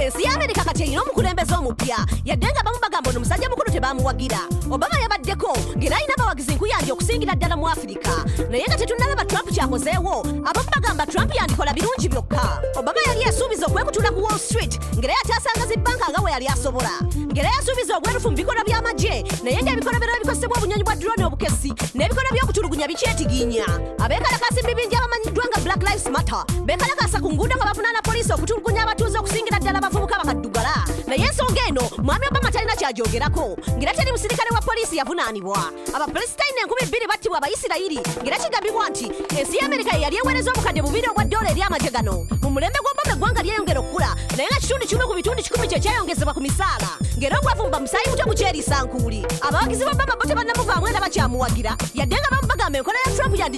ensi ya amerika kati erina omukulembeze omupya yadde nga bamu bagamba ono omusajja mukulu tebamuwagira obama yabaddeko ng'era alina abawagizi nkuyanja okusingira ddala mu afirika naye nga tetunnalaba trump kyakozeewo abamu bagamba trump yandikola birungi byokka obama yali yasuubiza okwekutula ku wall street ng'era yakyasanga zi bbanka nga we yali asobola ng'era yasuubiza obwerufu mu bikolwa by'amagye naye ng'ebikolobero ebikozesebwa obunyonyi bwa drone obukesi n'ebikolwa by'okutulugunya bikyetiginya abeekalakaasi mu bibinja abamanyiddwa nga black lives Matter bekalakaasa ku nguudo nga bavunaana poliisi okutulugunya abatuuze okusingira ddala abavubuka bakaddugala naye ensonga eno mwami obama talina kyagyogerako ngera teri musirikale wa poliisi yavunaanibwa abapalesitayina enkumi bbiri battibwa abayisirayiri ngera kigambibwa nti ensi ya amerika yeyali eweereza obukadde bubiri obwa ddoola eri amagye gano mu mulembe gw'obama eggwanga lyeyongera okukula naye nga kitundu kimu ku bitundu kikumi kye kyayongezebwa ku misaala ngera obwavumba musaayi muto gukyeriisa nkuuli abawagizi ba obama bo tebannamuvaamu era bakyamuwagira yadde nga bamu bagamba enkola ya trump yandi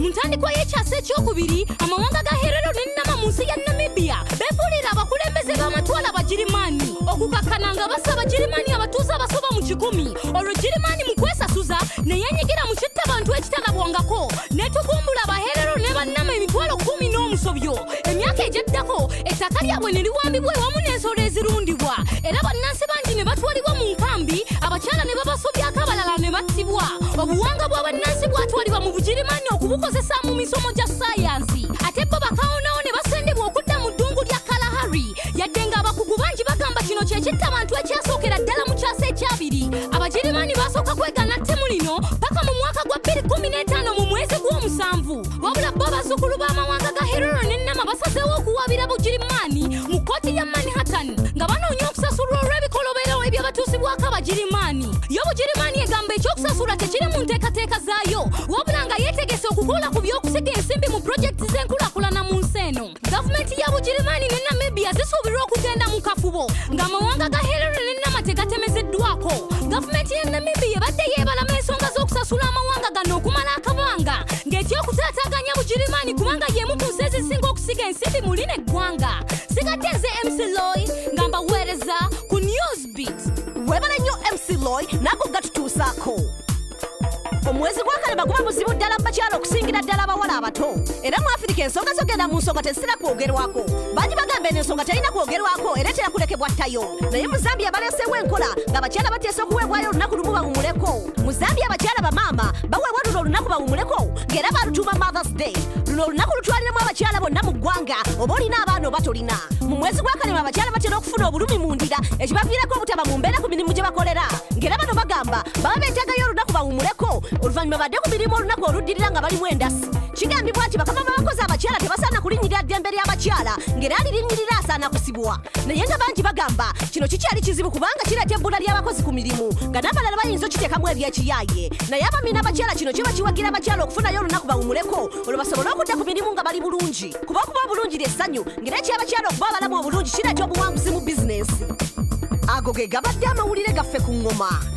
mu ntandikwa y'ekyasa ekyokubiri amawanga ga herero ne nama mu nsi ya namibia beefuulira abakulembeze b'amatwala abagirimaani okukakkana nga basa abagirimaani abatuuze abasoba mu kikumi olwo girimaani mu kwesasuza ne yeenyigira mu kitta bantu ekitalabwangako ne tugumbula abaherero ne bannama emitwalo kumi n'omusobyo emyaka egyaddako ettaka lyabwe ne liwambibwa ewamu n'ensolo ezirundibwa era bannansi bangi ne batwalibwa mu nkambi abakyala ne babasobyako abalala ne battibwa obuwanga bwa bannansi bwatwalibwa mu bugirimaani okubukozesa mu misomo gya sayansi ate bo bakawonawo ne basendebwa okudda mu ddungu lya kalahari yadde ng'abakugu bangi bagamba kino kye kitta abantu ekyasookera ddala mu kyasa ekyabiri abagirimaani baasooka kwegana ttemu lino paka mu mwaka gwa 215 mu mwezi gw'omusanvu wabula bo bazzukulu b'amawanga ga herero ne nama basazeewo okuwaabira bugirimaani mu kkooti ya manhattan nga banoonya okusasulwa olw'ebikolobero ebyabatuusibwako abagirimaani yo bugirimaani egamba ekyokusasula tekiri mu nteekateeka zaayo wabula nga yeetegese okukola ku by'okusiga ensimbi mu pulojekiti z'enkulakulana mu nsi eno gavumenti ya bugirimaani ne namibia zisuubirwa okugenda mu kafubo ng'amawanga ga hillary ne nama tegatemezeddwako gavumenti ya namibia ebadde yeebalama ensonga z'okusasula amawanga gano okumala akabanga ng'ekyokutaataaganya bugirimaani kubanga y'emu ku nsi ezisinga okusiga ensimbi muli n'eggwanga sigatte nze mcloy nga mbaweereza ku news beat webala nnyo mc loy nago gatutuusaako omwezi gwakalaba guba muzibu ddala mu bakyala okusingira ddala abawala abato era mu afirika ensonga zogenda mu nsonga tezitera kwogerwako bangi bagamba eno ensonga terina kwogerwako era etera kulekebwa ttayo naye mu zambia baleeseewo enkola nga abakyala bateesa okuweebwayo olunaku lumu bawumuleko mu zambia abakyala bamaama baweebwa luno olunaku bawumuleko ng'era balutuuma mothers day luno olunaku lutwaliramu abakyala bonna mu ggwanga oba olina abaana oba tolina mu mwezi gw'akalema abakyala batera okufuna obulumi mu ndira ekibaviirako obutaba mu mbeera ku mirimu gye bakolera ng'era bano bagamba baba beetagayo olunaku bawumuleko oluvannyuma badde ku mirimu olunaku oluddirira nga balimu endasi kigambibwa nti bakama b'abakozi abakyala tebasaana kulinnyirira ddembe ly'abakyala ng'era alirinyirira asaana kusibwa naye nga bangi bagamba kino kikyali kizibu kubanga kireeta ebbula ly'abakozi ku mirimu nga n'abalala bayinza okiteekamu ebyekiyaaye naye abami n'abakyala kino kiba kiwagira abakyala okufunayo olunaku bawumuleko olwo basobole okudda ku mirimu nga bali bulungi kuba okuba obulungi ly'essanyu ngera ekyabakyala okuba abalamu obulungi kireeta obuwanguzi mu bizinensi ago ge gabadde amawulire gaffe ku ngoma